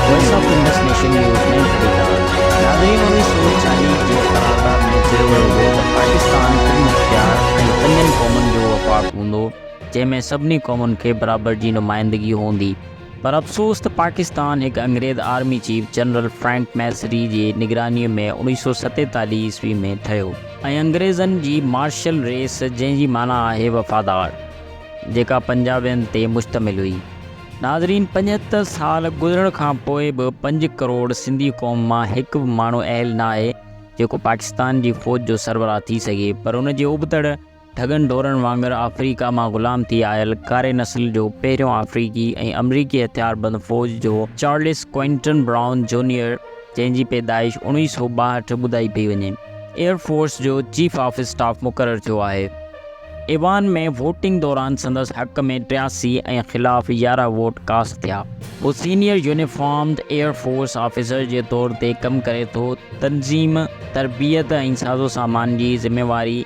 Voice of Indus nation news ۾ ڀليڪار ناظرين انيس سو چاليهه جي قرارداد ۾ چيو ويو هو ته پاڪستان ٽن مختيار ۽ پنجن قومن جو وفاق هوندو جنهن ۾ سڀني قومن کي برابر جي نمائندگي هوندي پر افسوس ته پاڪستان هڪ انگريز army chief general Frank Messervy جي نگراني ۾ انيس سو ستيتاليهه عيسوي ۾ ٺهيو ۽ انگريزن جي مارشل ريس جنهن جي معنيٰ آهي وفادار جيڪا پنجابين تي مشتمل هئي. ناظرين پنجهتر سال گذرڻ کان پوء به پنج ڪروڙ سنڌي قوم مان هڪ به ماڻهو اهل نه آهي جيڪو پاڪستان جي فوج جو سربراهه ٿي سگهي پر ان جي ابتڙ ڍڳن ڍورن وانگر آفريڪا مان غلام ٿي آيل ڪاري نسل جو پهريون آفريڪي ۽ آمريڪي هٿيار بند فوج جو چارلس ڪوئنٽن برائون جونيئر جنهن جي پيدائش اوڻيهه سؤ ٻاهٺ ٻڌائي پئي وڃي ايئر فورس جو چيف آف اسٽاف مقرر ٿيو آهي. ايوان ۾ ووٽنگ دوران سندس حق ۾ ٽياسي ۽ خلاف يارهن ووٽ ڪاسٽ ٿيا. هو senior uniformed air force officer جي طور تي ڪم ڪري ٿو، تنظيم، تربيت ۽ سازوسامان جي ذميواري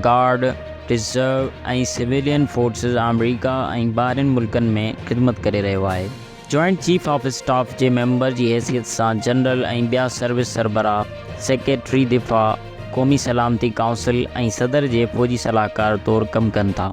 گارڊ، ريزرو ۽ سويلين فورسز آمريڪا ۽ ٻاهرين ملڪن ۾ خدمت ڪري رهيو آهي. جوائنٽ چيف آف اسٽاف جي ميمبر جي حيثيت سان جنرل ۽ ٻيا سروس سربراهه، سيڪريٽري دفاع، قومي سلامتي ڪائونسل ۽ صدر جي فوجي صلاحڪار طور ڪم ڪن ٿا.